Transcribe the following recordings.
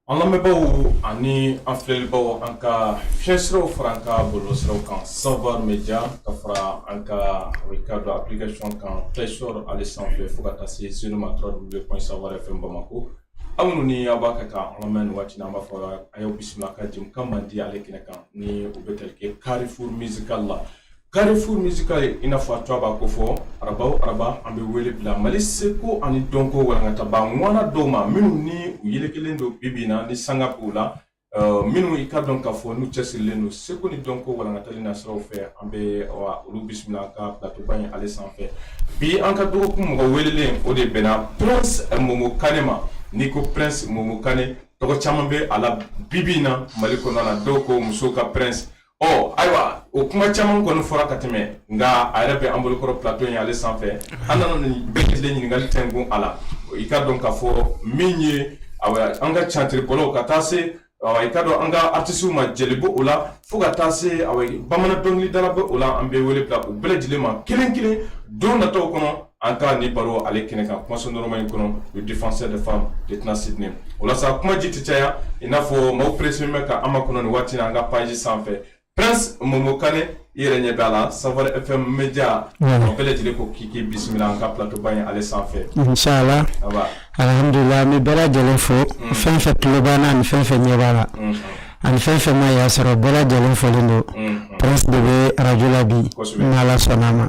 An lamɛnbaaw ani an filɛlibaaw an ka fiɲɛ siraw fara an ka bɔlɔlɔ siraw kan savoir media ka fara an ka radio application kan play store ale sanfɛ fo ka taa se senu ma www.savoirfm bamako aw minnu ni aw b'a kan ka an lamɛn nin waati in na an b'a fɔ aw ye aw bisimila an ka jɛmukan mandi ale kɛnɛ kan ni o bɛ tali kɛ carrefour musical la Carrefour musical i n'a fɔ a tɔgɔ b'a ko fɔ araba o araba an bɛ wele bila mali seko ani dɔnko walankataba ŋwana dɔw ma minnu ni u yelekelen don bibi na ni sanga b'u la uh, minnu i ka dɔn k'a fɔ n'u cɛsirilen don seko ni dɔnko walankatali na siraw fɛ an bɛ olu bisimila an ka platoba ye ale sanfɛ bi an ka dɔgɔkun mɔgɔ welelen o de bɛnna prince momo kane ma n'i ko prince momo kane tɔgɔ caman bɛ a la bibi na mali kɔnɔna na dɔw ko musow ka prince ɔ ayiwa o kuma caman kɔni fɔra ka tɛmɛ nka a yɛrɛ bɛ an bolokɔrɔ plato ye ale sanfɛ an nana nin bɛɛ lajɛlen ɲininkali tɛnkun a la i ka dɔn k'a fɔ min ye an ka tiyatiribɔlaw ka taa se i ka dɔn an ka artisiw ma jeli bɛ o la fo ka taa se bamanan dɔnkilidala bɛ o la an bɛ wele bila u bɛɛ lajɛlen ma kelen kelen don nataw kɔnɔ an ka nin baro ale kɛnɛ kan kumaso nɔrɔma in kɔnɔ le défenseur des femmes de tɛna sidney o la sa kuma ji tɛ caya i n'a fɔ maaw perese bɛ ka an makɔnɔ nin waati na an ka page sanfɛ prince momo kane i yɛrɛ ɲɛ bɛ a la savoir fm media o bɛɛ lajɛlen ko k'i k'i bisimila an ka plateau ba in ale sanfɛ inshallah alhamdulillah an bɛ bɛɛ lajɛlen fo fɛn fɛn tulo b'an na ani fɛn fɛn ɲɛ b'a la ani fɛn fɛn ma y'a sɔrɔ bɛɛ lajɛlen folen don prince de bɛ arajo la bi n'ala sɔnna a ma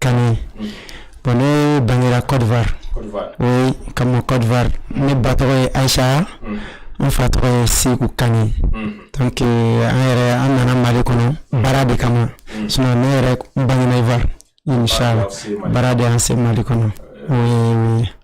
Ka bon ne bangera kɔrɔfɔfari ka kɔrɔfɔfari ne ba tɔgɔ ye ayisa n fa tɔgɔ ye seku ka an yɛrɛ an nana mali kɔnɔ baara de kama ne yɛrɛ bangefari baara de an se mali kɔnɔ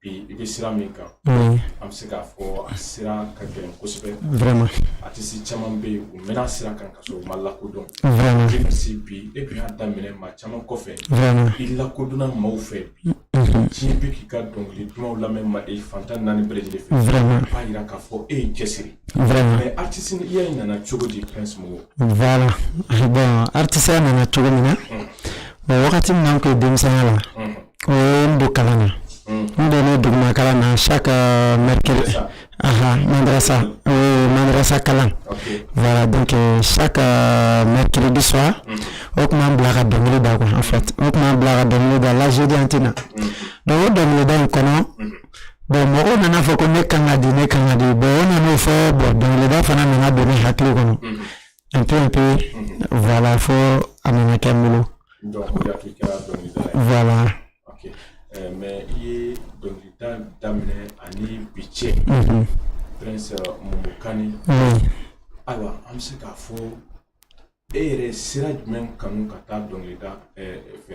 bi i bɛ sira min kan an bɛ se k'a fɔ a sira ka gɛlɛn kosɛbɛ artiste caman bɛ yen u mɛnna sira kan ka sɔrɔ u ma lakodɔn i bɛ se bi e bɛ y'a daminɛ maa caman kɔfɛ i lakodɔnna maaw fɛ bi diɲɛ bɛ k'i ka dɔnkili dumanw lamɛn mali fan tan ni naani bɛɛ lajɛlen fɛ o b'a jira k'a fɔ e y'i cɛsiri mais artiste ya in nana cogo di Prince Momo voilà bon artiste ya nana cogo min na wagati min na an tun ye denmisɛnya la U ye n don kalan na n donna duguma kalan na chaque mercredi aha madrasa oui madrasa kalan voilà donc chaque mercredi soir u tun b'an bila ka dɔnkili da quoi en fait u tun b'an bila ka dɔnkili da la jeudi an tɛ na donc o dɔnkilida in kɔnɔ bon mɔgɔw nana fɔ ko ne kan ka di ne kan ka di bon u nana o fɔ bon dɔnkilida fana nana don ne hakili kɔnɔ N pe pe voilà fo a nana kɛ n bolo voilà mais i ye dɔnkilida daminɛ ani bi cɛ Prince Momo Kane ayiwa an bɛ se k'a fɔ e yɛrɛ sira jumɛn kanu ka taa dɔnkilida fɛ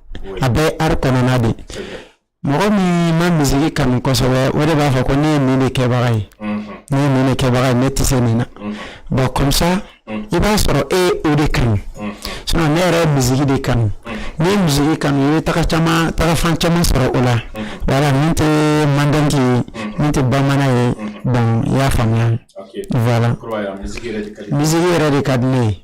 a bɛ art kɔnɔna de mɔgɔ min ma misiki kanu kosɛbɛ o de b'a fɔ ko ne ye nin de kɛbaga ye ne ye nin de kɛbaga ye ne tɛ se nin na bon comme ça i b'a sɔrɔ e ye o de kanu sinon ne yɛrɛ ye misiki de kanu ne ye misiki kanu i bɛ taga caman taga fan caman sɔrɔ o la voilà min tɛ mandingue ye min tɛ bamanan ye bon i y'a faamuya voilà misiki yɛrɛ de ka di ne ye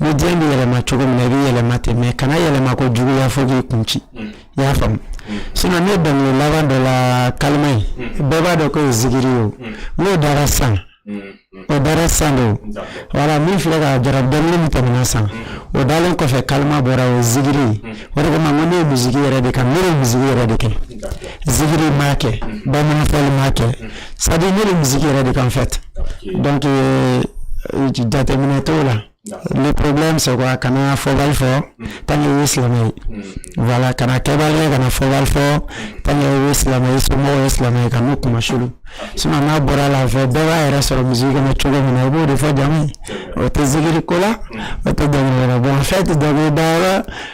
ni diɲɛ bɛ yɛlɛma cogo min na i bɛ yɛlɛma ten mais kana yɛlɛma kojuguya fo k'i kun ci mm. i y'a faamu mm. sinon ne dɔnkili laban dɔ la kalima ye mm. bɛɛ b'a dɔn k'o ye zigiri ye o n'o dara san o dara san de o wala min filɛ ka jara dɔnkili min tɛmɛna san o dalen kɔfɛ kalima bɔra o ye zigiri ye o de kama n ko ne ye misiki yɛrɛ de kanu ne ye misiki yɛrɛ de kɛ zigiri m'a kɛ bamananfɔli m'a kɛ sa ne de misiki yɛrɛ de kanu en fait donc jateminɛ t'o la le problème c'est a kana fɔ wari fɔ tan ye silamɛ voilà kana kɛba ye kana fɔ wari fɔ tan ye silamɛ ye so ye silamɛ ye ka n'u kuma su su n'a bɔra la fɛ bɛɛ b'a yɛrɛ sɔrɔ misiki kɔnɔ cogo min na i b'o de fɔ jamu o tɛ zigiri ko la o tɛ bɔ fɛn tɛ da da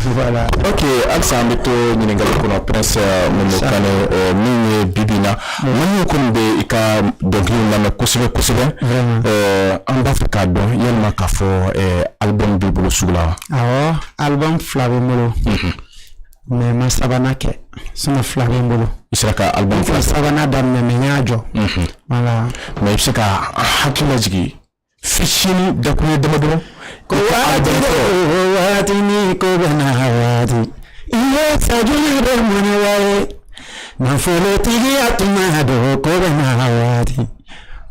Voilà. Ok, halisa an bɛ to ɲininkali kɔnɔ Prince Momo Kane ɛ min ye bi bi in na Mali kɔni bɛ i ka dɔnkili lamɛn kosɛbɛ kosɛbɛ ɛ an b'a fɛ k'a dɔn yalima k'a fɔ ɛ album b'i bolo sugu la wa? Awɔ album fila bɛ n bolo mais n ma sabanan kɛ sinon fila bɛ n bolo. N sera ka album fila sabanan daminɛ mais n y'a jɔ. Voilà. Mais i bɛ se ka hakili lajigin fitinin dakuru damadɔ ko waati o waati ni ko bɛɛ n'a waati i ye sajuli bɛ mun ye nafolotigiya tuma don ko bɛɛ n'a waati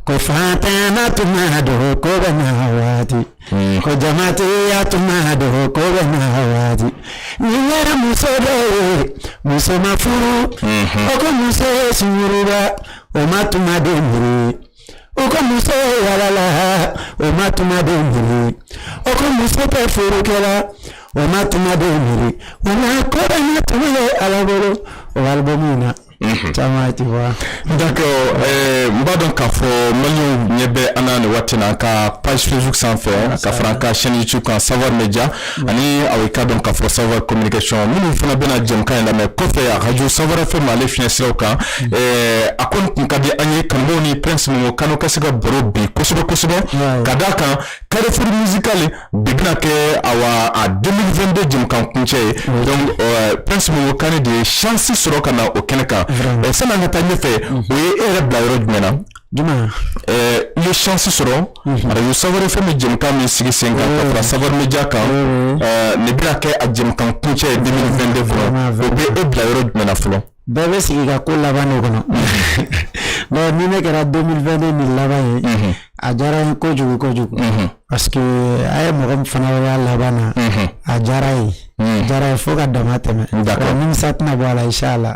ko faantanya tuma don ko bɛɛ n'a waati ko jamatigiya tuma don ko bɛɛ n'a waati n'i ye muso dɔ ye muso ma furu o ko muso ye sungurunba o ma tuma de miiri. o ko muso ye yaalala o ma tuma de miiri o ko muso tɛ furu kɛ la o ma tuma de miiri o ma ko bɛɛ n'a tuma ye ala bolo o album na mhm. caman ti wa. donc eh, n b'a dɔn k'a fɔ maliyɛnw ɲɛ bɛ an na nin waati na an ka page facebook sanfɛ ka fara an ka chaîne youtube kan savoir media. Ani a ka dɔn ka fɔ Savoir communication minnu fana bɛna jɛmukan in lamɛn kɔfɛ arajo Savoir FM Mali fiɲɛsiraw kan a ko tun ka di an ye k'an ni Prince Momo Kane ka se ka baro bi kosɛbɛ kosɛbɛ ka da a kan carrefour musical bi bɛna kɛ an ka 2022 jɛmukan kuncɛ ye donc Prince Momo Kane de ye chance sɔrɔ ka na o kɛnɛ kan sanni ka taa ɲɛfɛ o ye e yɛrɛ bila yɔrɔ jumɛn na Jumɛn i ye chance sɔrɔ arajo Savoir FM bɛ jɛmukan min sigi sen kan Savoir Média kan nin bɛna kɛ a jɛmukan kuncɛ ye 2022 kɔnɔ o bɛ e bila yɔrɔ jumɛn fɔlɔ bɛɛ bɛ sigi ka ko laban ne kɔnɔ nka ni ne kɛra 2022 nin laban ye a diyara n ye kojugu kojugu pa a ye mɔgɔ fana y'a laban na a diyara n ye a diyara n ye fo ka damatɛmɛ nka nimisa tɛna bɔ a la inshallah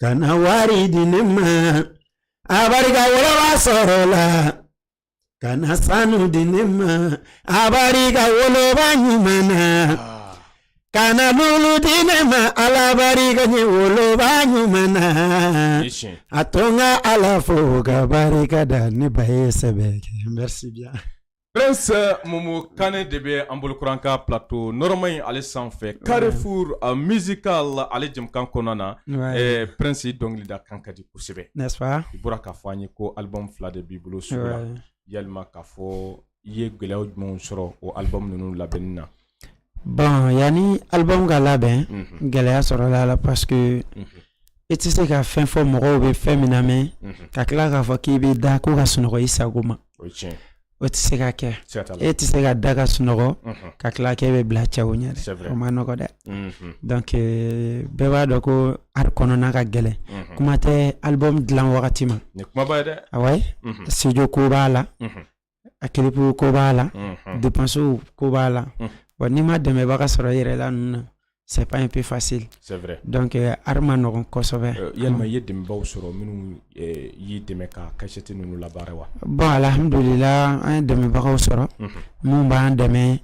kana wari di ne ma a barika woloba sɔrɔ la kana sanu di ne ma a barika woloba ɲuman na ah. kana lulu di ne ma ala barika ne woloba ɲuman na a to n ka ala fo ka barika da ne ba ye sɛbɛn kɛ merci bien Prince Momo Kane de bɛ an bolo kɔrɔ an ka plateau nɔrɔma in ale sanfɛ carrefour musical ale jɛmukan kɔnɔna na, wayi, ɛ Prince i dɔnkilida kan ka di kosɛbɛ n'est ce pas i bɔra k'a fɔ an ye ko album fila de b'i bolo sugu la, wayi, yalima k'a fɔ i ye gɛlɛya jumɛnw sɔrɔ o album ninnu labɛnni na Bon yanni album ka labɛn gɛlɛya sɔrɔla a la parce que e tɛ se ka fɛn fɔ mɔgɔw bɛ fɛn min namɛn ka tila k'a fɔ k'i bɛ da ko ka sunɔgɔ i sago ma o tɛ se ka kɛ e tɛ se ka da ka sunɔgɔ ka tila k'i bɛ bila cɛw ɲɛ o man nɔgɔ dɛ donc bɛɛ b'a dɔn ko art kɔnɔna ka gɛlɛn kuma tɛ album dilan wagati ma a studio ko b'a la a clip ko b'a la danseurs ko b'a la wa n'i ma dɛmɛbaga sɔrɔ yɛrɛla ninnu na c'est pas un peu facile donc a man nɔgɔ kosɛbɛ yalima i ye dɛmɛbaw sɔrɔ minnu y'i dɛmɛ ka cassette ninnu labaara wa bon alhamdulilahi an ye dɛmɛbagaw sɔrɔ minnu b'an dɛmɛ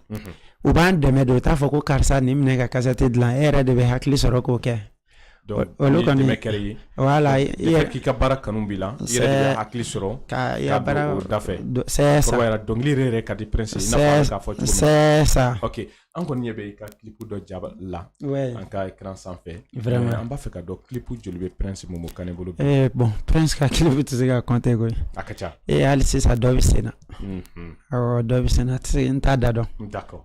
u b'an dɛmɛ don u t'a fɔ ko karisa nin minɛ ka cassette dilan e yɛrɛ de bɛ hakili sɔrɔ k'o kɛ Donc olu kɔni dɛmɛ kɛra i ye voilà i yɛrɛ k'i ka baara kanu b'i la i yɛrɛ de bɛ hakili sɔrɔ ka i ka baara o da fɛ c'est ça kɔrɔbayara dɔnkili yɛrɛ yɛrɛ ka di prince i n'a fɔ an k'a fɔ cogo min c'est ça ok an kɔni ɲɛ bɛ i ka clip dɔ ja la an ka écran sanfɛ vraiment an b'a fɛ ka dɔn clip joli bɛ prince momo kane bolo bi eh bon prince ka clip tɛ se ka compter koyi a ka ca eh hali sisan dɔ bɛ sen na awɔ dɔ bɛ sen na tɛ se n t'a da dɔn d'accord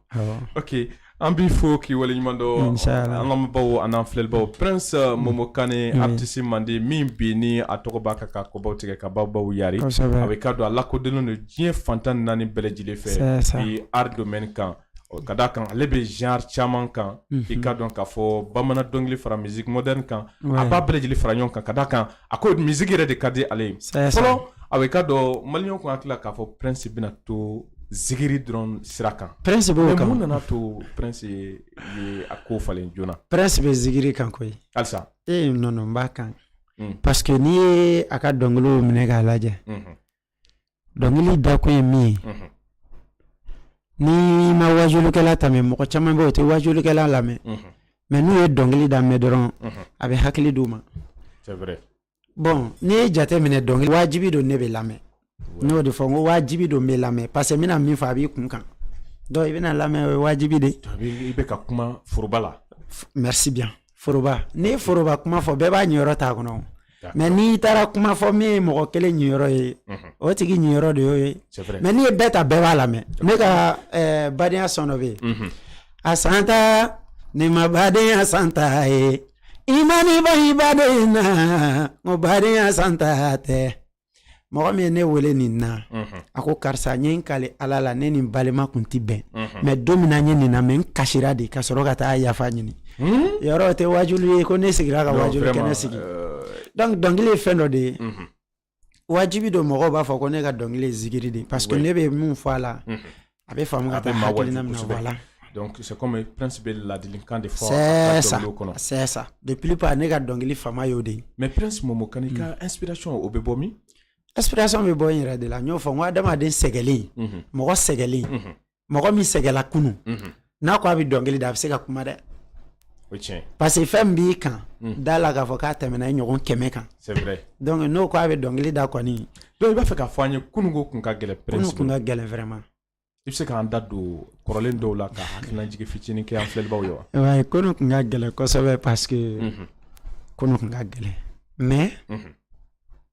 ok An b'i fo k'i waleɲumandɔn an ka baw an filɛlibaw prince uh, momo kane artiste mandi min bɛ ni a tɔgɔ bɛ kan ka kɔbaw tigɛ ka baw baw yari a bɛ ka don a lakodɔnnen don diɲɛ fan tan naani bɛɛ lajɛlen fɛ bi art domaine kan ka d' a kan ale bɛ genre caman kan i k'a dɔn k'a fɔ bamanan dɔnkili fara musique moderne kan a b'a bɛɛ lajɛlen fara ɲɔgɔn kan ka d' a kan a ko musique yɛrɛ de ka di ale ye fɔlɔ a bɛ ka dɔn maliens tun hakili la k'a fɔ prince bɛna to zikiri dɔrɔn sira kan sabu mun nana to prince ye a ko falen joona prince bɛ zikiri kan koyi halisa e n b'a kan parce que n'i ye a ka dɔnkili minɛ k'a lajɛ Dɔnkili da kun ye min ye n'i ma waajulikɛla ta mɔgɔ caman bɛ u tɛ waajulikɛla lamɛn mais n'u ye dɔnkili da mɛn dɔrɔn a bɛ hakili d'i ma bon n'i ye jate minɛ dɔnkili wajibi don ne bɛ lamɛn n'o de fɔ ko wajibi don bɛ lamɛn parce que n bɛna min fɔ a b'i kun kan i bɛna lamɛn wajibi de i bɛ kuma foroba la message foroba n'i ye foroba kuma fɔ bɛɛ b'a niyɔrɔ t'a kɔnɔ o. D'accord. mais n'i taara kuma fɔ min ye mɔgɔ kelen niyɔrɔ ye Mhm. o tigi niyɔrɔ de y'o ye C'est vrai. mais n'i ye bɛɛ ta bɛɛ b'a lamɛn ne ka eh, badenya son dɔ bɛ yen Mhm. a santa n'i ma badenya santa ye i man'i ban i baden na o badenya santa tɛ mɔgɔ min ye ne wele nin na a ko karisa n ye n kali ala la ne ni n balima kun tɛ bɛn mais don min na n ye nin lamɛn n kasira de ka sɔrɔ ka taa yafa ɲini hmm? yɔrɔ tɛ waajuli ye ko ne sigira ka waajuli kɛnɛ sigi euh, donc dɔnkili ye fɛn dɔ de ye wajibi don mɔgɔw b'a fɔ ko ne ka dɔnkili ye zikiri de parce que ne bɛ minw fɔ a la a bɛ faamu k'a bɛ maa waaju kosɛbɛ donc c'est comme prince bɛ ladilikan de fɔ c'est ça c'est ça la plupart ne ka dɔnkili fanba y'o de ye mais prince momo kane i ka inspiration o bɛ bɔ min inspiration bɛ bɔ n yɛrɛ de la n y'o fɔ n ko adamaden sɛgɛlen mɔgɔ sɛgɛlen mɔgɔ min sɛgɛla kunun n'a ko a bɛ dɔnkili da a bɛ se ka kuma dɛ parce que fɛn b'i kan hmm. da la k'a fɔ k'a tɛmɛna i ɲɔgɔn kɛmɛ kan donc n'o ko a bɛ dɔnkili da kɔni donc i b'a fɛ k'a fɔ an ye kununko kun ka gɛlɛn kunun kun ka gɛlɛn vraiment i bɛ se k'an da don kɔrɔlen dɔw la ka hakilinajigin fitinin kɛ an filɛlibaaw ye wa wayi kunun kun ka gɛlɛn kosɛbɛ parce que mhm. kunun kun ka gɛlɛn mais mhm.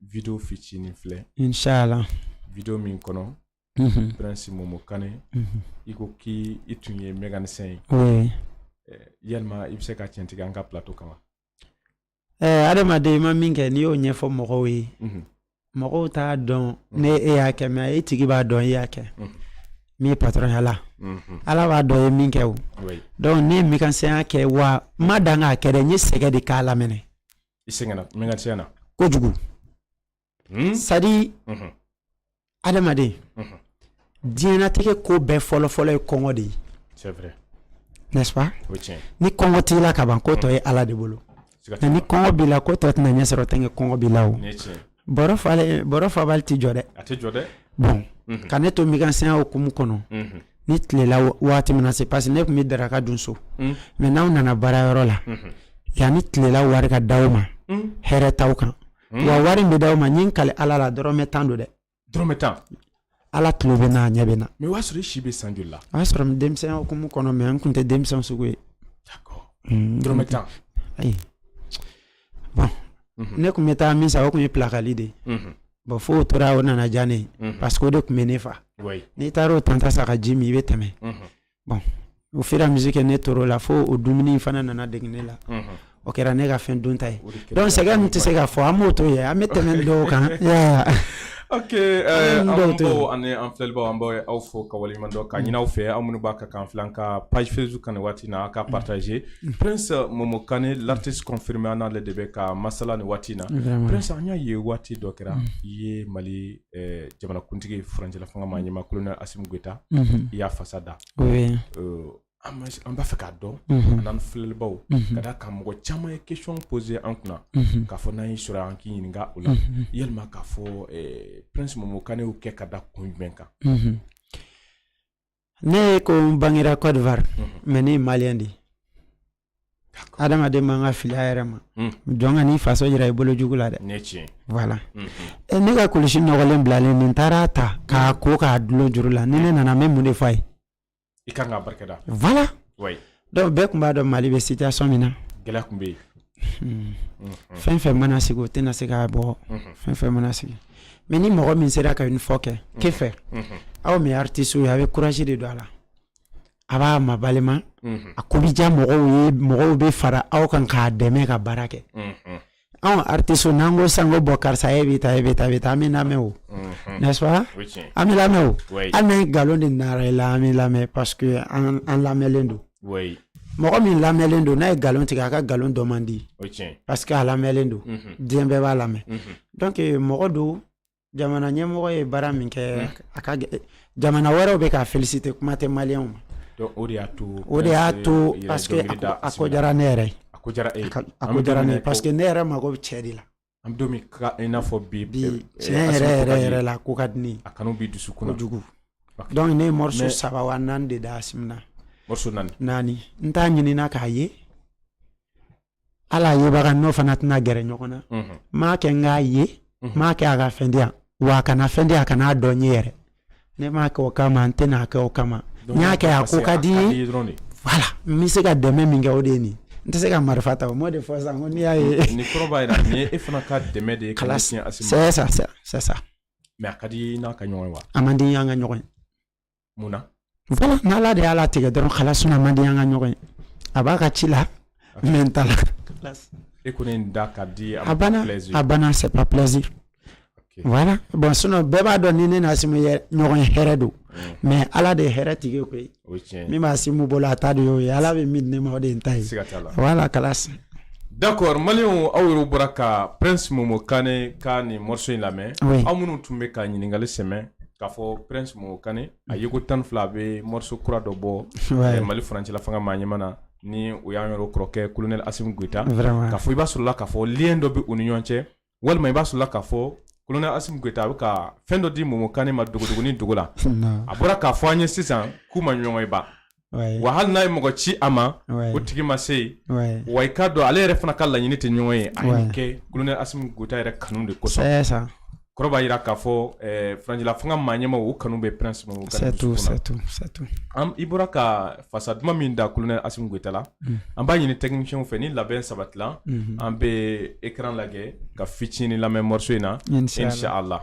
video fitinin filɛ inshala video min kɔnɔ mhm. prince momo kane mhm. i ko k'i i tun ye mécanicien ye oui. Eh, yala i bɛ se k'a tiɲɛtigiya an ka plateau kan wa eh, adamaden i ma min kɛ n'i y'o ɲɛfɔ mɔgɔw ye mhm. mɔgɔw t'a dɔn ni e y'a kɛ mais e tigi b'a dɔn e y'a kɛ min ye patɔrɔnya la ala b'a dɔn ye min kɛ o donc ne ye mécanicienya kɛ wa n ma dan k'a kɛ dɛ n ye sɛgɛn de k'a laminɛ i sɛgɛnna min kan tiɲɛ na kojugu hmm? sadi mhm. adamaden mhm. diɲɛnatigɛ ko bɛɛ fɔlɔfɔlɔ ye kɔngɔ de ye n'est-ce pas ni kɔngɔ t'i la ka ban ko tɔ ye mhm. ala de bolo nka ni kɔngɔ b'i la ko tɔ tɛna ɲɛ sɔrɔ tant que kɔngɔ b'i la o bɔrɔ fabali tɛ jɔ dɛ a tɛ jɔ dɛ bon ka ne to mekanisiyɛnya hukumu kɔnɔ ni tilela waati mana se parce que ne tun bɛ daraka dun so mais n'aw nana baara yɔrɔ la yanni tilela wari ka d'aw ma hɛrɛ t'aw kan wa wari bɛ d'aw ma n kalen ala la dɔrɔmɛ tan don dɛ dɔrɔmɛ tan Ala tulo bɛ n na a ɲɛ bɛ n na mais o y'a sɔrɔ i si bɛ san joli la o y'a sɔrɔ denmisɛnya hukumu kɔnɔ mais n tun tɛ denmisɛn sugu ye d'accord hmm, dɔrɔmɛ tan ayi bon mhm. ne tun bɛ taa min san o tun ye pilakali de ye mhm. bon fo o tora o nana diya ne ye mhm. parce que o de tun bɛ ne fa n'i taara o tan ta san ka ji min i bɛ tɛmɛ bon o fira misi kɛ ne tɔɔrɔ la fo o dumuni fana nana dege ne la o kɛra ne ka fɛn dunta ye donc sɛgɛn min tɛ se ka fɔ an b'o to ye an bɛ tɛmɛ dɔw kan ani an filɛbaw an b'aw fo ka dɔn k'a ɲini aw fɛ aw minnu b'a kan k'an filɛ an ka page facebook kan waati na ka partager prince momo kan l'artiste confirmé n'ale de bɛ ka masala nin waati na prince an y'a ye waati dɔ kɛra i ye mali eh, jamanakuntigi furancɛla fanga maa ɲɛmaa kolonɛli asimi goyita mhm. i y'a fasa da eh, an b'a fɛ k'a dɔn mhm. an n'an filɛlibaw mhm. ka d'a kan mɔgɔ caman ye question pose an kunna k'a fɔ n'an y'i sɔrɔ an k'i ɲininka o la yalima k'a fɔ eh, prince momo kan y'o kɛ ka da kun jumɛn kan Ne kɔni bangera Cote d'Ivoire mhm. mais ne ye malien de ye adamaden man kan ka fili a yɛrɛ ma mhm. jɔn kan'i faso jira i bolo jugu la dɛ voilà mhm. eh, ne ka kulusi nɔgɔlen bilalen nin taara a ta k'a ko k'a dulon juru la ni ne nana n bɛ mun de fɔ a ye i ka kan k'a barika da voilà Donc bɛɛ tun b'a dɔn mali bɛ situation min na gɛlɛya tun bɛ yen fɛn fɛn mana sigi o tɛna se k'a bɔ fɛn fɛn mana sigi mais ni mɔgɔ min sera ka l'effort kɛ ke fɛ aw min artiste ye a bɛ courage de don a la a b'a mabalima a ko bɛ diya mɔgɔw ye mɔgɔw bɛ fara aw kan k'a dɛmɛ ka baara kɛ anw artiste n'an ko sisan ko bon karisa e bɛ tan e bɛ tan e bɛ tan an bɛ lamɛn o n'est-ce pas an bɛ lamɛn o hali n'an ye nkalon de nɔrɔ i la an bɛ lamɛn parce que an an lamɛnlen don mɔgɔ min lamɛnlen don n'a ye nkalon tigɛ a ka nkalon dɔn man di parce que a lamɛnlen don diɲɛ bɛɛ b'a lamɛn donc mɔgɔ don jamana ɲɛmɔgɔ ye baara min kɛ hali jamana wɛrɛw bɛ k'a féliciter kuma tɛ maliyɛnw ma o de y'a to o de y'a to parce que a ko diyara ne yɛrɛ ye a ko diyara e a ko diyara ne parce que ne yɛrɛ mago bɛ cɛ de la an bɛ don min na i n'a fɔ bi bi eh, tiɲɛ yɛrɛ yɛrɛ yɛrɛ la a ko ka di ne ye a kanu bɛ n dusu kɔnɔ kojugu donc ne ye morceau saba wa naani de da Asimi na morceau naani naani n t'a ɲininna k'a ye ala yebaga n'o fana tɛna gɛrɛ ɲɔgɔn na mhm. m'a kɛ n k'a ye mhm. m'a kɛ a ka fɛn di yan wa a kana fɛn di a kana a dɔn n ye yɛrɛ ne m'a kɛ o kama n tɛna a kɛ o kama n y'a kɛ a ko ka di n ye wala n bɛ se ka dɛmɛ min kɛ o de ye nin n tɛ se ka marifa ta o m'o de fɔ sisan ko n'i y'a ye ni kɔrɔ b'a jira nin ye e fana ka dɛmɛ de ye ka ɲɛsin asim ma c'est ça c'est ça mais a ka di an ka ɲɔgɔn ye wa a man di an ka ɲɔgɔn ye mun na voilà ni ala de y'a latigɛ dɔrɔn voilà sinon a man di an ka ɲɔgɔn ye a b'a ka ci la n bɛ n ta la e ko ne da ka di a banna a banna c'est pas plaisir voilà bon sinon bɛɛ b'a dɔn ni ne ni asimi ye ɲɔgɔn ye hɛrɛ don mais ala de ye hɛrɛ tigi koyi min bɛ asimi bolo a ta de y'o ye ala bɛ min di ne ma o de ye n ta ye voilà kalas d'accord maliyɛnw aw yɛrɛ bɔra ka prince momo kane ka nin morceau in lamɛn aw minnu tun bɛ ka ɲininkali sɛmɛ k'a fɔ prince momo kane a yeko tan ni fila a bɛ morceau kura dɔ bɔ eh, mali furancɛla fanga maa ɲɛma na ni o y'an yɛrɛ kɔrɔkɛ colonel asim goita k'a fɔ i b'a sɔrɔla k'a fɔ lien dɔ bɛ u ni ɲɔgɔn cɛ walima i b'a sɔrɔla k'a fɔ colonel asim goita a bɛ ka fɛn dɔ di momo kane ma dogodogonin dogo la a bɔra k'a fɔ an ye sisan k'u ma ɲɔgɔn ye ban wa hali n'a ye mɔgɔ ci a ma o tigi ma se yen wa i k'a dɔn ale yɛrɛ fana ka laɲini tɛ ɲɔgɔn ye a y'a kɛ kolonɛ asimi goita yɛrɛ kanu de kosɔn kɔrɔ b'a jira k'a fɔ eh, furancɛla fanga maa ɲɛma o kanu bɛ prince ma i bɔra ka fasa duman min da kolonɛ asimi goita la mm. an b'a ɲini technicienw fɛ ni labɛn sabatila mm-hmm. an bɛ écran lajɛ ka fitini lamɛn morceau in na inshallah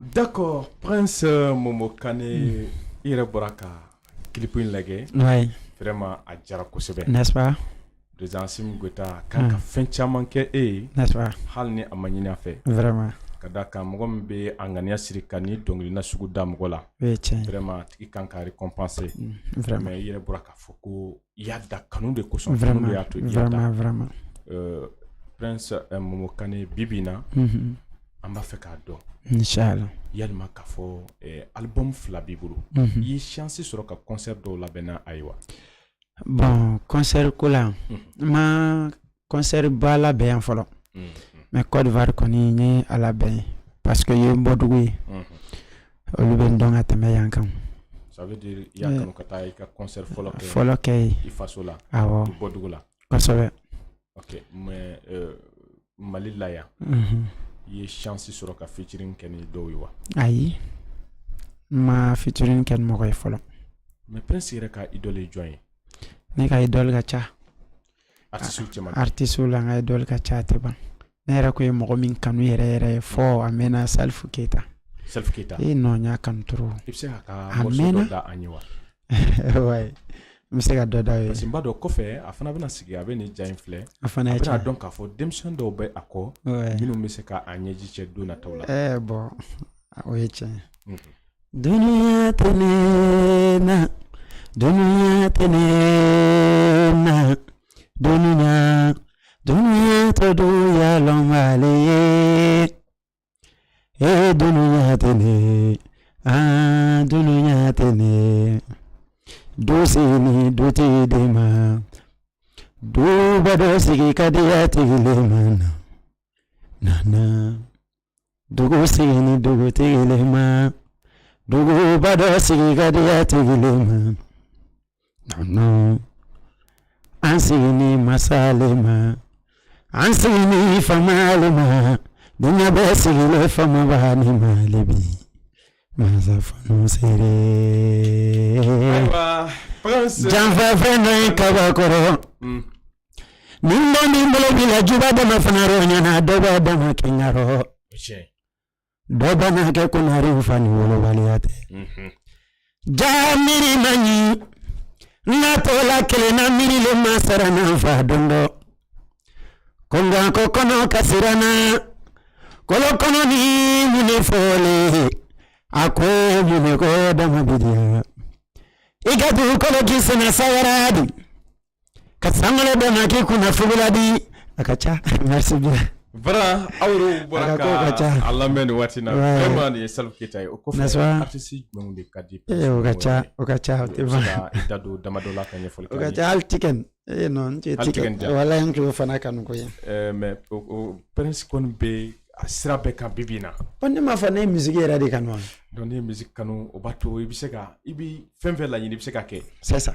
D'accord prince momo kane i yɛrɛ bɔra ka clip in lajɛ vraiment a diyara kosɛbɛ président asimi goita kan ka fɛn caman kɛ e ye hali ni a ma ɲini a fɛ ka d'a kan mɔgɔ min bɛ a ŋaniya siri ka nin dɔnkili nasugu da mɔgɔ la tigi kan ka récompensé i yɛrɛ bɔra k'a fɔ ko i y'a da kanu de kosɔn vraiment y'a to i y'a da vraiment euh, prince euh, momo kane bi bi in na mm -hmm. an b'a fɛ k'a dɔn inshallah yalima k'a fɔ eh, album fila b'i bolo mm -hmm. i ye chance sɔrɔ ka concert dɔw labɛnna ayiwa bon concert ko la mm -hmm. n ma kɔnsɛri ba labɛn yan fɔlɔ mais kɔdiwari kɔni n ye a labɛn yen parce que yen ye n bɔdugu ye olu bɛ n dɔn ka tɛmɛ yan kan fɔlɔ kɛ ye awɔ kosɛbɛ mali la yan i ye chance sɔrɔ ka featuring kɛ ni dɔw ye wa ayi n ma featuring kɛ ni mɔgɔ ye fɔlɔ mais prince yɛrɛ ka idole ye jɔn ye ne ka idole ka ca aritisiw la ka ye dɔli ka ca tɛ ban ne yɛrɛ tun ye mɔgɔ min kanu yɛrɛ yɛrɛ ye fɔ a mɛnna Salifu keyita keyita e nɔ y'a kanu a mɛn n bɛ se ka dɔ da ye parce dɔ kɔfɛ a fana bɛna sigi a bɛ nin ja in filɛ a fana y'a dɔn k'a fɔ denmisɛnmi dɔw bɛ a kɔ minnu bɛ se k'a ɲɛji cɛ don na tɔw la ɛɛ bɔn o ye tiɲɛ Dununya tɛ na dunya tɛ na dunya dunya tɛ dɔyalama ye e dunya tɛ ne a dunya tɛ ne du sigi ni dutigi le ma duba dɔ sigi ka jatigi le ma na na dugu sigi ni dugutigi le ma duguba dɔ sigi ka jatigi le ma an sigi ni masa le ma an sigi ni fama le ma dunya bɛ sigi le fama ba ni ma le bi masa fanu sere janfa fɛn dɔ ye kabako rɔ Ni mɔgɔ min bolo b'i la juguba dɔ ma fana yɔrɔ ɲɛna dɔ b'a d'a ma kɛɲɛ yɔrɔ dɔ b'a n'a kɛ ko naare in fa ni wolobaliya tɛ jaa miiri ma ɲi n'a tola kelen na miiri le ma sara n'a fa don dɔ ko nka ko kɔnɔ ka siran na kolo kɔnɔ ni mun de fɔlen a ko mun de ko dama bidiya i ka dugukolo k'i sen na sabara di ka sankolo dama k'i kunna fugula di a ka ca merci bien Voilà aw yɛrɛw bɔra A ka kow ka ca. ka a lamɛn nin waati in na Ouais. vraiment nin ye Salifu Keyita ye o kɔfɛ N'est-ce pas? artiste jumɛnw de ka di e ye o ka ca o ka ca o tɛ ban ka i da don damadɔ la ka ɲɛfɔli o k'an ye. ka ca hali tikɛn ee non n tɛ Hali tikɛn tikɛn tɛ. wala n tulo fana kanu ko ye Euh, mais o o Prince kɔni bɛ a sira bɛɛ kan bi bi in na ko ne m'a fɔ ne ye musique yɛrɛ de kanu wa donc n'i ye musique kanu o b'a to i bɛ se ka i bɛ fɛn fɛn laɲini i bɛ se ka kɛ c'est ça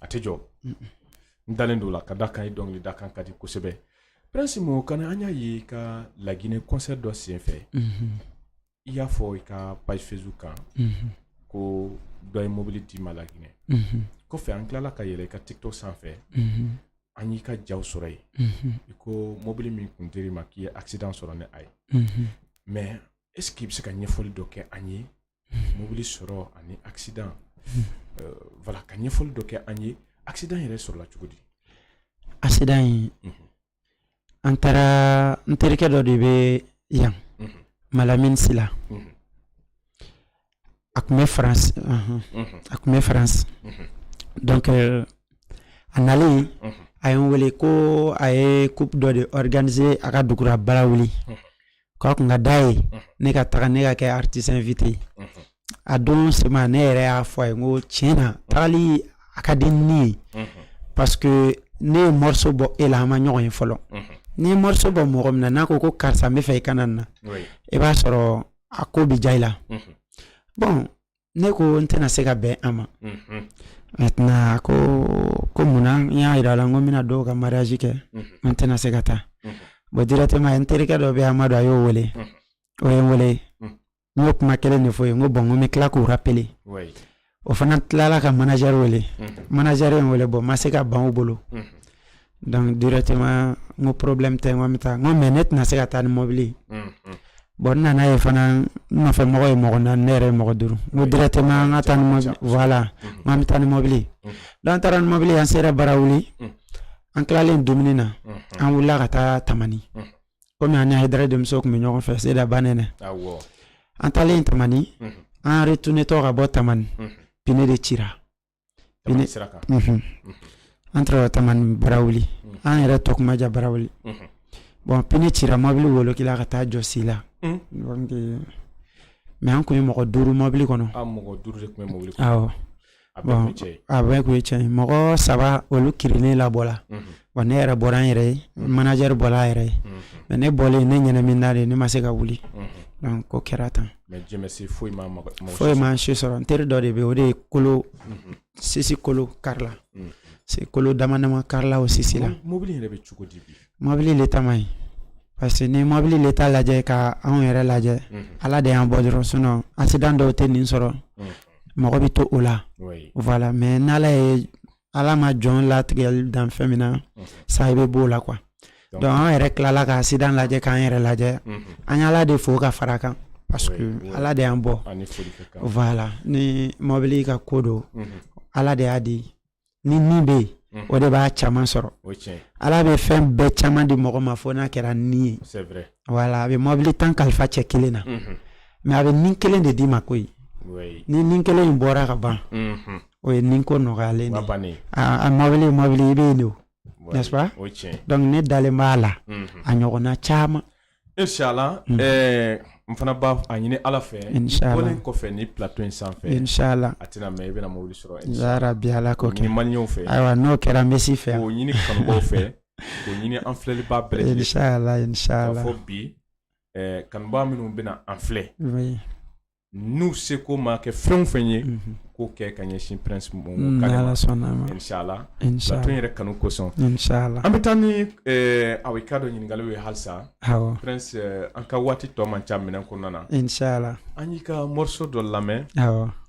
a tɛ jɔ n dalen don a la ka d'a kan i dɔnkili da kan ka di kosɛbɛ prince mo kana an y'a ye i ka laginɛ concert dɔ senfɛ i y'a fɔ i ka page facebook kan ko dɔ ye mobili d'i ma laginɛ kɔfɛ an tilala ka yɛlɛ i ka tiktok sanfɛ an y'i ka jaw sɔrɔ yen i ko mobili min kun dir'i ma k'i ye accident sɔrɔ ni a ye mais est ce que i bɛ se ka ɲɛfɔli dɔ kɛ an ye mobili sɔrɔ ani accident voilà ka ɲɛfɔli dɔ kɛ an ye accident yɛrɛ sɔrɔla cogo di accident in an taara n terikɛ dɔ de bɛ yan malamini sila a tun bɛ faransi a tun bɛ faransi donc a nalen a ye n wele ko a ye coupe dɔ de organiser a ka dugu ra barawuli k'a tun ka di a ye ne ka taga ne ka kɛ artiste invité ye a don sema ne yɛrɛ y'a fɔ a ye n ko tiɲɛ na tagali a ka di ne ye parce que ne ye morceau bɔ e la an ma ɲɔgɔn ye fɔlɔ n'i ye morceau bɔ mɔgɔ min na n'a ko ko karisa n b'a fɛ i ka na nin na i b'a sɔrɔ a ko bi diya i la bon ne ko n tɛna se ka bɛn a ma maintenant ko ko mun na n y'a jira a la n ko n bɛna dɔw ka mariage kɛ n tɛna se ka taa bon directement n terikɛ dɔ bɛ yen Amadu a y'o wele o ye n wele n y'o kuma kelen de fɔ o ye n ko bon n ko n bɛ tila k'u rappeler o fana tilala ka manager wele manager ye n wele bon n ma se ka ban u bolo. Donc directement n ko problème tɛ n bɛ taa mais ne tɛna se ka taa ni mɔbili bon manager fana nɔfɛ mɔgɔ ye mɔgɔ naani ne yɛrɛ ye mɔgɔ duuru directement an ka taa voilà n'an bɛ taa ni mɔbili n'an taara ni mɔbili an sera barawuli an tilalen dumuni na an wulila ka taa tamani comme an ye da denmuso tun bɛ ɲɔgɔn fɛ seda bannen na an taalen tamani an retournertɔ ka bɔ tamani pneu de ci entre tamani barawuli an yɛrɛ tɔ tun man jan barawuli bon pneu cira mobili wolokila ka taa jɔ si la mɛ an tun ye mɔgɔ duuru mɔbili kɔnɔ a bɛɛ tun ye cɛ ye mɔgɔ saba olu kirinnen labɔla wa ne yɛrɛ bɔra n yɛrɛ ye mm-hmm. manager bɔra a yɛrɛ ye mm-hmm. mais ne bɔlen ne ɲɛnaminina de ne ma se ka wuli mm-hmm. donc ko kɛra tan mais Dieu merci foyi ma foyi ma an si sɔrɔ n teri dɔ de bɛ o de ye kolo sisi kolo karila se kolo dama dama karila o sisi la mobili yɛrɛ bɛ cogo di bi mobili l'état man ɲi parce que n'i mobili l'état lajɛ ka anw yɛrɛ lajɛ ala de y'an bɔ dɔrɔn sinon accident dɔw tɛ nin sɔrɔ mɔgɔ bɛ to o la voilà mais n'ala ye ala ma jɔn latigɛli dan fɛn min na sa i bɛ bɔ o la quoi donc an yɛrɛ tilala k'accident lajɛ k'an yɛrɛ lajɛ an ye ala de fo ka fara a kan parce que ala de y'an bɔ voilà ni mɔbili ka ko don ala de y'a di ni min bɛ yen Mm-hmm. o de b'a caman sɔrɔ ala bɛ fɛn bɛɛ caman di mɔgɔ ma fo n'a kɛra ni ye ala bɛ mɔbili tan kalifa cɛ kelen na mais a bɛ ni kelen de d'i ma ko ni ni kelen in bɔra ka ban o ye ni ko nɔgɔyalen a mɔbili mɔbili i bɛ yen don donc ne dalen b'a la a ɲɔgɔnna caman insalaah an fana b'a ɲini ala fɛ bɔlen kɔfɛ nin plateau in sanfɛ a tɛna mɛn i bɛna mobili sɔrɔ bi ala kɛ fɛ ayiwa n'o kɛra misi fɛ o ɲini fɛ k'a ɲini an filɛlibaa bɛɛ lajɛlen fɛ bi kanubaa minnu bɛna an filɛ n'u seko ma kɛ fɛn o fɛn ye mhm. k'o kɛ ka ɲɛsin Prince yɛrɛ kanu kosɔn an bɛ taa ni a ka dɔ ɲininkali ye halisa Prince an ka waati tɔ man ca émission kɔnɔna na an y'i ka morceau dɔ lamɛn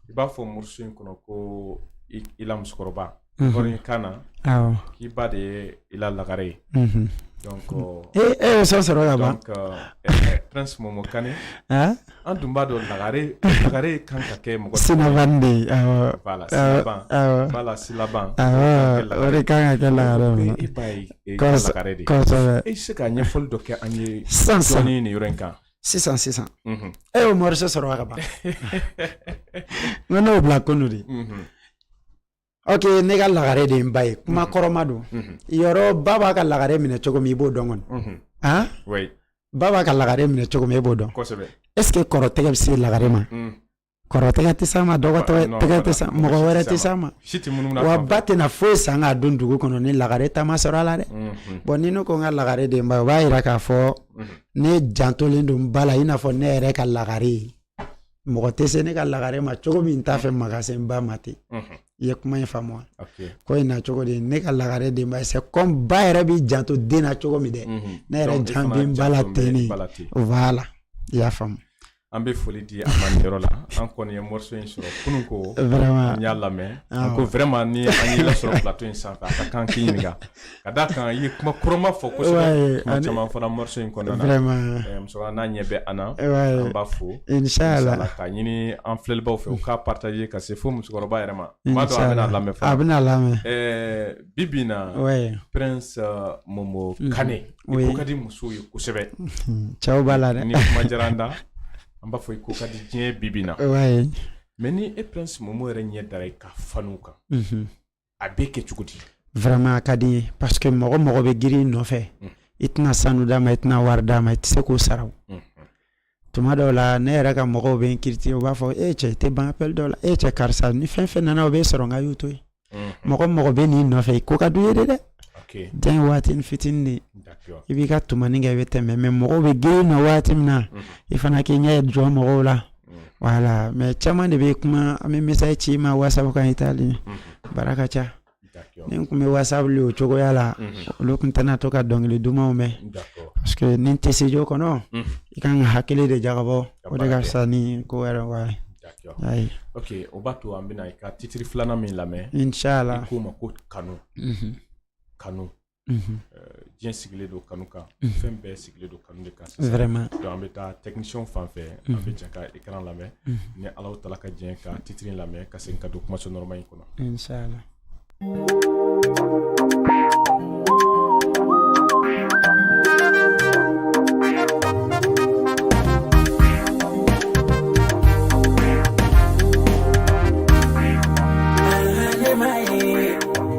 i b'a fɔ morceau in kɔnɔ ko i la musokɔrɔba Bɔra kan na k'i ba de ye i la lagare ye e ye morceau sɔrɔ ka ban Momo Kane an tun b'a dɔn lagare lagare kan ka kɛ mɔgɔ sinnaban de kan ka kɛ lagare lagare e bɛ se ka ɲɛfɔli dɔ kɛ an ye san san ni nin yɔrɔ in kan sisan sisan e y'o morceau sɔrɔ ka ban wa ne y'o bila kunun dɛ Ok ne ka lagare de ye n ba ye kuma kɔrɔma don yɔrɔ ba b'a ka lagare minɛ cogo min i b'o dɔn kɔni han ba b'a ka lagare minɛ cogo min e b'o dɔn est ce que kɔrɔ tɛgɛ bɛ se lagare ma kɔrɔ tɛgɛ tɛ s'a ma dɔgɔ tɛgɛ tɛ s'a ma mɔgɔ wɛrɛ tɛ s'a ma wa ba tɛna foyi san k'a don dugu kɔnɔ ni lagare ta ma sɔrɔ a la dɛ bon ni ne ko n ka lagare de ye n ba ye o b'a jira k'a fɔ ne jantolen don n ba la i n'a fɔ ne yɛrɛ ka lagare ye mɔgɔ tɛ se ne ka lagare ma cogo min n t'a fɛ maa ka se n ba ma ten i ye kuma in faamu wa ko in na cogo de ne ka lagare de ye n ba ye c'est comme ba yɛrɛ b'i janto den na cogo min dɛ ne yɛrɛ jan bɛ n ba la ten ne voilà i y'a faamu an bɛ foli di a ma nin yɔrɔ la an kɔni ye morceau in sɔrɔ kunun ko n y'a lamɛn ko vraiment ni an y'i lasɔrɔ plateau in sanfɛ an ka kan k'i ɲininka Ka da kan i ye kuma kɔrɔma fɔ kosɛbɛ kuma caman fɔla morceau in kɔnɔna na ɛɛ musola n'a ɲɛ bɛ an na an b'a fo insalaah k'a ɲini an filɛlibaw fɛ u k'a partager ka se fo musokɔrɔba yɛrɛ ma n b'a dɔn a bɛna lamɛn fana a bɛna lamɛn ɛɛ bi bi in na Prince Momo Kane i ko ka di musow ye kosɛbɛ cɛw b'a la dɛ ni kuma diyara an da an b'a fɔ i ko ka di diɲɛ bi bi in na mais ni e Prince Momo yɛrɛ ɲɛ dara i ka fanw kan a bɛ kɛ cogo di vraiment a ka di n ye parce que mɔgɔ mɔgɔ bɛ girin i nɔfɛ mm. i tɛna sanu d'a ma i tɛna wari d'a ma i tɛ se k'o sara o mm-hmm. tuma dɔw la ne yɛrɛ ka mɔgɔw bɛ n critiquer u b'a fɔ e cɛ i tɛ ban appel dɔw la e cɛ karisa ni fɛn fɛn nana o bɛ sɔrɔ n k'a y'o to yen mm-hmm. mɔgɔ mɔgɔ bɛ n'i nɔfɛ i ko ka d'u ye de dɛ diɲɛ ye waatinin fitinin de ye i b'i ka tumani kɛ i bɛ tɛmɛ mais mɔgɔw bɛ girin na waati min na mm-hmm. i fana k'i ɲɛ jɔ mɔgɔw la voilà mais caman de bɛ kuma an bɛ message ci n ma WhatsApp kan i t'a lire baara ka ca ni tun bɛ WhatsApp wuli o cogoya la olu tun tɛna to ka dɔnkili dumanw mɛn parce que n'i tɛ studio kɔnɔ i ka kan ka hakili de jagabɔ o de ka fisa ni ko wɛrɛ wa ayi ok o b'a to an bɛna i ka titiri filanan min lamɛn inshallah k'o ma ko kanu kanu diɲɛ sigilen don kanu kan fɛn bɛɛ sigilen don kanu de kan an bɛ taa technicienw fan fɛ an bɛ jɛ ka i ka kanu lamɛn ni ala ta ka diɲɛ ka titiri lamɛn ka segin ka don kumaso nɔɔrɔma in kɔnɔ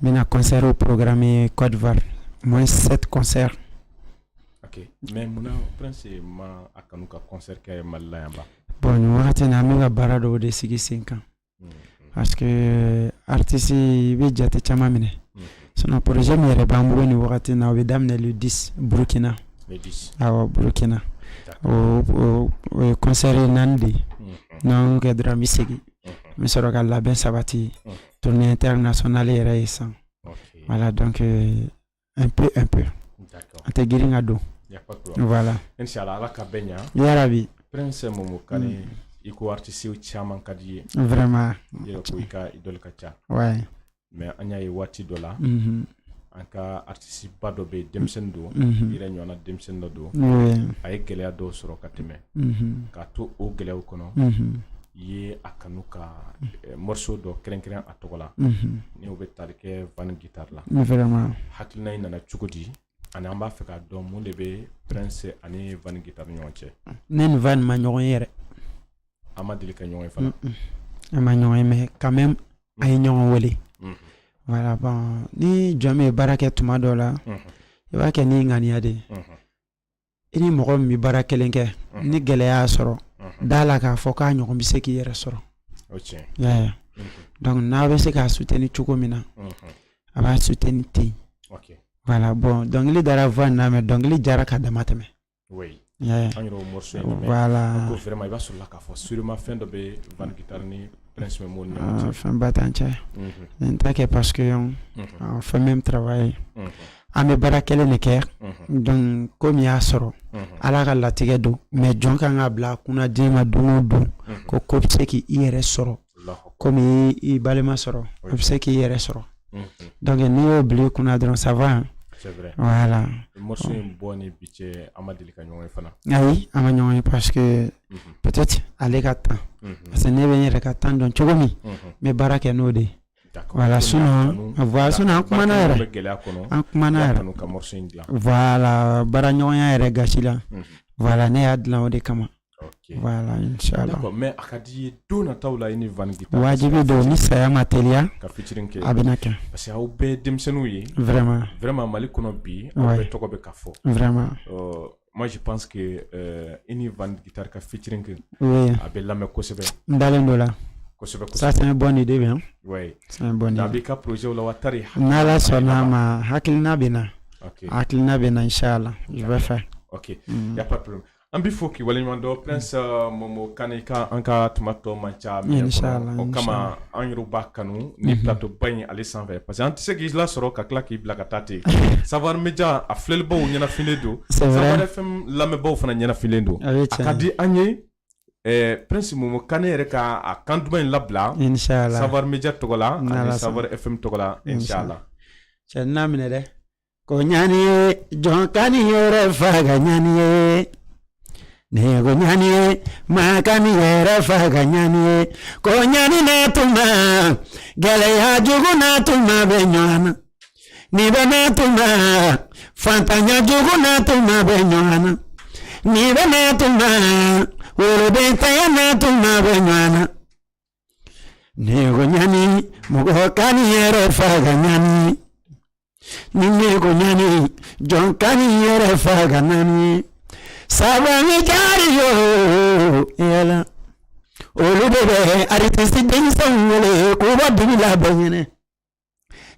Min na concertw programmé Côte d'Ivoire au moins sept concerts mais munna i ma a kanu ka concert kɛ mali la yan bon nin wagati na an ka baara dɔw de sigi sen kan parce que artiste i bɛ jate caman minɛ sinon projet min yɛrɛ b'an bolo ni wagati na u bɛ daminɛ di burukina burukina concert naani de ye n'an kɛ dɔrɔn bɛ segin n bɛ sɔrɔ ka labɛn sabati ye tournée internationale yɛrɛ ye san voilà donc euh, un peu un peu an tɛ girin ka don voilà inshallah ala k'a bɛɛ ɲa yarabi prince momo kane mm. i ko artiste caman ka di i ye vraiment i yɛrɛ ko i ka idole ka ca ouais mais an y'a ye waati dɔ la mm-hmm. an ka artisteba dɔ bɛ yen denmisɛnnin don i yɛrɛ ɲɔgɔn denmisɛnnin dɔ don a ye gɛlɛya dɔw sɔrɔ ka tɛmɛ k'a to o gɛlɛya kɔnɔ i ye a kanu ka morceau dɔ kɛrɛnkɛrɛn a tɔgɔ la n'o bɛ tali kɛ Van Guitare la hakilina in nana cogo di ani an b'a fɛ k'a dɔn mun de bɛ prince ani Van Guitare ni ɲɔgɔn cɛ ne ni Van ma ɲɔgɔn ye yɛrɛ an ma deli ka ɲɔgɔn ye fana an ma ɲɔgɔn ye mais quand même an ye ɲɔgɔn wele voilà bon ni jɔn bɛ baara kɛ tuma dɔ la i b'a kɛ ni ŋaniya de ye i ni mɔgɔ min bɛ baara kelen kɛ ni gɛlɛya y'a sɔrɔ d'a la k'a fɔ k'a ɲɔgɔn bɛ se k'i yɛrɛ sɔrɔ donc n'a bɛ se k'a soutenir cogo min na a b'a soutenir ten voilà bon dɔnkili dara voix in na mais dɔnkili diyara ka dama tɛmɛ Oui an yɛrɛ y'o morceau in lamɛn, voilà, an ko vraiment i b'a sɔrɔ la k'a fɔ sûrement fɛn dɔ bɛ Van Guitar ni Prince Momo ni ɲɔgɔn cɛ, aa fɛn ba t'an cɛ, unhun, mais n t'a kɛ parce que on fait même travail unhun, an bɛ baara kelen de kɛ, unhun, donc ko min y'a sɔrɔ, unhun, Ala ka latigɛ don mais jɔn ka kan k'a bila a kunna diɲɛ ma don o don, unhun, ko ko bɛ se k'i yɛrɛ sɔrɔ ko min y'i balima sɔrɔ a bɛ se k'i yɛrɛ sɔrɔ donc n'i y'o bila i kunna dɔrɔn ça va voilà morceau in bɔ ni bi cɛ an ma deli ka ɲɔgɔn ye fana ayi an ma ɲɔgɔn ye parce que peut-être ale ka temps parce que ne bɛ n yɛrɛ ka temps dɔn cogo min n bɛ baara kɛ n'o de ye voilà sinon voilà sinon an kumana yɛrɛ an kumana yɛrɛ voilà baaraɲɔgɔnya yɛrɛ gasi la voilà ne y'a dilan o de kama Wala mɛ a ka di don na taa la i ni wajibi don ni saya ma teliya ka feat kɛ a bɛna kɛ parce que aw bɛɛ denmisɛnninw ye vraiment mali kɔnɔ bi tɔgɔ bɛ ka fɔ moi je pense que i ni taa ka feat kɛ a bɛ lamɛn kosɛbɛ n ntalen dɔ la bɔ nin de bɛ a b'i ka projetw la wa n'Ala sɔnna a ma hakilina bɛ n na hakilina bɛ n na inchallah i bɛ fɛ ya An b'i fo k'i waleɲumandɔn prince Momo Kane an ka tuma tɔ man ca mais o kama an yɛrɛ b'a kanu ni plateau ba in ale sanfɛ parce que an tɛ se k'i lasɔrɔ ka tila k'i bila ka taa ten savoir media a filɛlibaaw ɲɛnafilen don savoir FM lamɛnbaaw fana ɲɛnafilen don a ka di an ye prince Momo Kane yɛrɛ ka a kan duman in labila savoir media tɔgɔ la ani savoir FM tɔgɔ la inchallah cɛ n'a minɛ dɛ ko ɲani ye jɔn kan'i yɛrɛ faga ɲani ye ne ko ɲani ye maa kan'i yɛrɛ faga ɲani ye ko ɲani na tuma gɛlɛya jugu na tuma bɛ ɲɔgɔn na ni bɛ na tuma fantanya jugu na tuma bɛ ɲɔgɔn na ni bɛ na tuma wolodenntanya na tuma bɛ ɲɔgɔn na Ne ko ɲani mɔgɔ kan'i yɛrɛ faga ɲani ni ne ko ɲani jɔn kan'i yɛrɛ faga ɲani savoir media yo yɛlɛ olu de bɛ aritisi denmisɛnw wele k'u bɔ dibi la bɛɛ ɲɛ na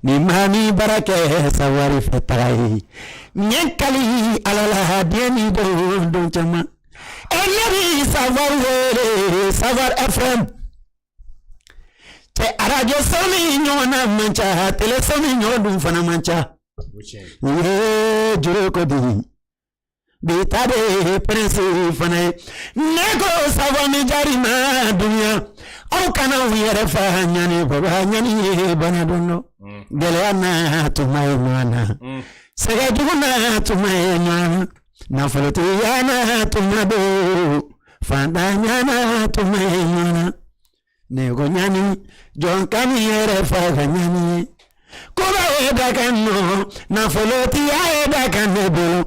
ni maa min baara kɛ savoir fɛ taga ye n ye n kali ala la den ni don don caman e ɲɛ bi savoir wele savoir fm cɛ arajoso nin ɲɔgɔn na man ca teleso nin ɲɔgɔn dun fana man ca o ye juru ko di bi ta de ye prince fana ye ne ko sago ni jari ma dunya aw kana u yɛrɛ fa ɲani baba ɲani ye ban don dɔ mm. gɛlɛya na tuma ye ɲɔgɔn na mm. sɛgɛ jugu na tuma ye ɲɔgɔn na nafolotigiya na tuma don fantanya na tuma ye ɲɔgɔn na Ne ko ɲani jɔn kan'i yɛrɛ faga ɲani ye koba ye dakan nɔ nafolotigiya ye dakan ne bolo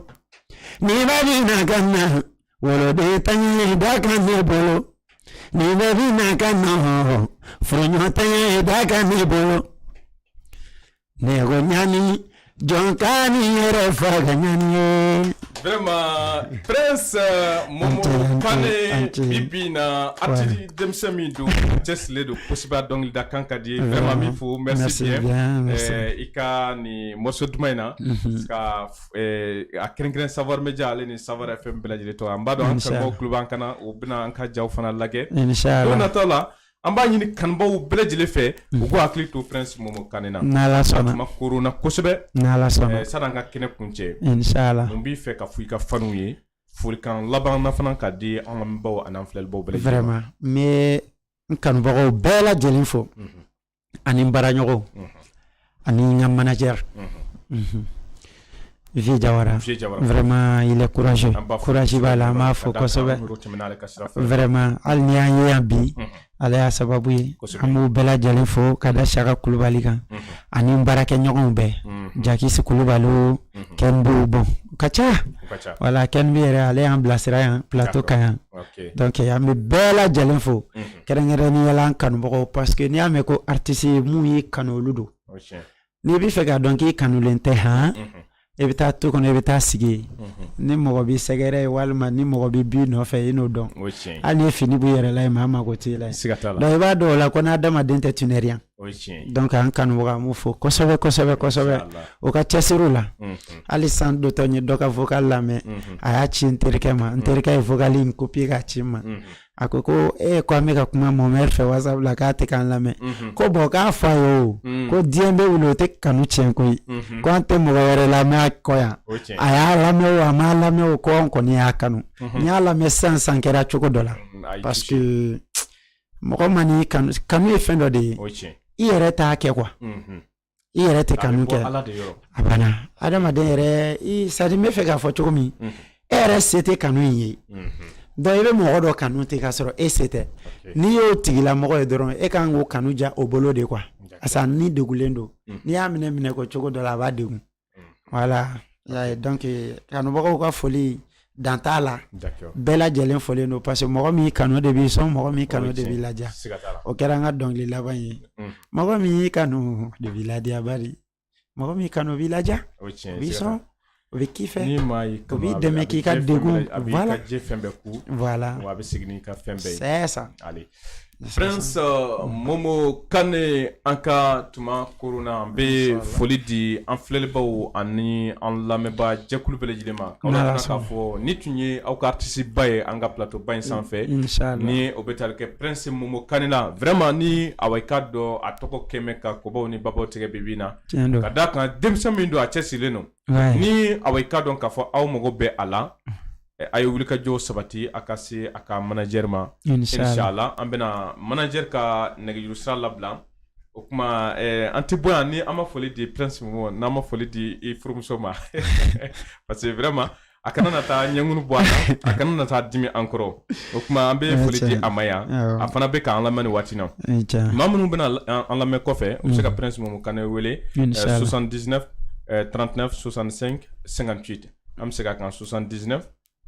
ni bɛ bi na ka na wolodenntanya ye dakan ne bolo ni bɛ bi na ka na furuɲɔgɔnntanya ye dakan ne bolo Ne ko ɲani jɔn kan'i yɛrɛ faga ɲani ye vraiment prince euh, momo kane bi bi na artiste denmisɛn min don cɛsirilen don kosɛbɛ a dɔnkilida kan ka di vraiment n b'i fo merci bien euh, i ka nin morceau duman in na mhm. ka euh, a kɛrɛnkɛrɛn savoir media ale ni savoir fm bɛɛ lajɛlen tɔgɔ an b'a dɔn an kanubaw kulo b'an kan na u bɛna an ka jaw fana lajɛ don nataw la an b'a ɲini kanubagaw bɛɛ lajɛlen fɛ u k'u hakili to prince momo kan na kuma korona kosɛbɛ eh, san'an ka kɛnɛ kuncɛ n b'i fɛ ka fɔ i ka fanw ye folikan laban fana ka di an lamɛnbaw ani an filɛlibaw bɛɛ la vraiment n bɛ n kanubagaw bɛɛ lajɛlen fo mhm. ani n baaraɲɔgɔnw ani n ka manager mhm. Vieux Diawara vraiment il est courageux courage b'a la an b'a fo kosɛbɛ vraiment hali n'i y'an ye yan bi mhm. ale y'a sababu ye an b'u bɛɛ lajɛlen fo ka da Siyaka Kulubali kan mhm. ani n baarakɛɲɔgɔnw bɛɛ Jakisi Kulubali o Kɛnbu bon u ka ca voilà Kɛnbu yɛrɛ ale y'an bilasira yan plateau kan yan donc an bɛ bɛɛ lajɛlen fo kɛrɛnkɛrɛnnenya la an kanubagaw parce que n'i y'a mɛn ko artiste mun y'i kanu olu don n'i bɛ fɛ k'a dɔn k'i kanulen tɛ han mhm. i bɛ taa tu kɔnɔ i bɛ taa sigi yen mhm. ni mɔgɔ b'i sɛgɛrɛ walima ni mɔgɔ b'i bin nɔfɛ i n'o dɔn hali ni fini b'i yɛrɛ la yen maa mago t'i la donc i b'a dɔn o la ko n'adamaden tɛ tu n'es rien donc an kanubagaw an b'u fo kosɛbɛ kosɛbɛ kosɛbɛ u ka cɛsiriw la mhm. hali san dɔtɔ n ye dɔ ka vocal lamɛn a y'a ci n terikɛ ma n terikɛ ye vocal in copier k'a ci n ma a ko ko e ko an bɛ ka kuma mɔmɛri fɛ whatsapp la k'a tɛ k'an lamɛn mhm. ko bon k'a fɔ a ye o mhm. ko diɲɛ bɛ wuli o tɛ kanu tiɲɛ koyi mhm. ko an tɛ mɔgɔ wɛrɛ lamɛn a kɔ yan a y'a lamɛn o a m'a lamɛn o ko an kɔni y'a kanu n y'a lamɛn sisan sa n kɛra cogo dɔ la mm, parce que mɔgɔ man'i kanu kanu ye fɛn dɔ de ye i yɛrɛ t'a kɛ quoi i yɛrɛ tɛ kanu kɛ a banna adamaden yɛrɛ c'est-à-dire n bɛ fɛ k'a fɔ cogo min e yɛrɛ se tɛ kanu in ye donc i bɛ mɔgɔ dɔ kanu ten k'a sɔrɔ e se tɛ n'i y'o tigilamɔgɔ ye dɔrɔn e kan k'o kanu ja o bolo de quoi asa ni degunnen don n'i y'a minɛ minɛko cogo dɔ la a b'a degun voilà y'a dɔn kanubagaw ka foli dan t'a la bɛɛ lajɛlen folen don parce que mɔgɔ min kanu de b'i sɔn mɔgɔ min kanu de b'i ladiya o kɛra an ka dɔnkili laban ye mm. mɔgɔ min y'i kanu de b'i ladiya bari mɔgɔ min kanu b'i ladiya o b'i sɔn o bɛ k'i fɛ o b'i dɛmɛ k'i ka degun voilà voilà a bɛ segin n'i ka fɛn bɛɛ ye c'est ça Prince Momo Kane an ka tuma koronna an bɛ foli di an filɛlibaaw ani an lamɛnbaa jɛkulu bɛɛ lajɛlen ma k'aw lajira k'a fɔ nin tun ye aw ka artiste ba ye an ka plateau ba in sanfɛ ni o bɛ tali kɛ Prince Momo Kane la vraiment ni awa i k'a dɔn a tɔgɔ kɛlen bɛ ka kɔbaw ni babaw tigɛ bi bi in na ka d'a kan denmisɛn min don a cɛsirilen don ni awa i k'a dɔn k'a fɔ aw mago bɛ a la a ye wulikajɔw sabati a ka se a ka manajɛri ma inchallah an bɛna manajɛ ka nɛgɛjuru sira labila o tuma an tɛ bɔ yan ni an ma foli di princesse ma n'an ma foli di i furumuso ma parce que vraiment a kana na taa ɲɛkun bɔ a kana na taa dimi an kɔrɔ o tuma an bɛ foli di a ma yan a fana bɛ k'an lamɛn nin waati na maa minnu bɛna an lamɛn kɔfɛ u bɛ se ka mm. Prince Momo Kane wele 79 39 65 58 an bɛ segin a kan 79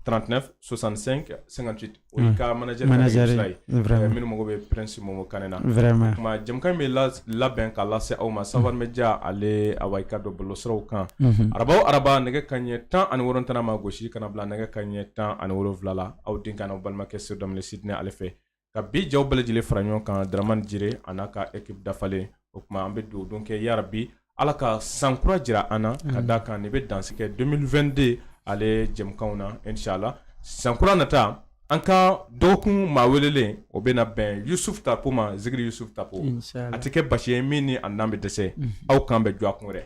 39 65 58 O y'a ka manager ka nɛgɛjurusira ye, manager ye vraiment minnu mago bɛ Prince Momo Kane na vraiment, o tuma jɛmukan in bɛ labɛn ka lase aw ma Savane Media ale awa i k'a dɔn bɔlɔlɔsiraw kan, unhun, araba o araba nɛgɛ kanɲɛ tan ani wolonwula ntɛnɛn ma gosi ka na bila nɛgɛ kanɲɛ tan ani wolonwula la aw denkɛ an'aw balimakɛ Sidy Lamine Sidnɛ ale fɛ ka bi jaaw bɛɛ lajɛlen fara ɲɔgɔn kan Dramane Djire an'a ka équipe dafalen o tuma an bɛ dugawu don kɛ yarabi Ala ka san kura jira an na ka d'a kan nin bɛ dansigi kɛ 2022 ale jɛmukanw na inchallah san kura nata an ka dɔgɔkun maa welelen o bɛna bɛn Yusufu Tapo ma zikiri Yusufu Tapo a tɛ kɛ basi ye min ni an'an bɛ dɛsɛ aw k'an bɛn dɔgɔkun wɛrɛ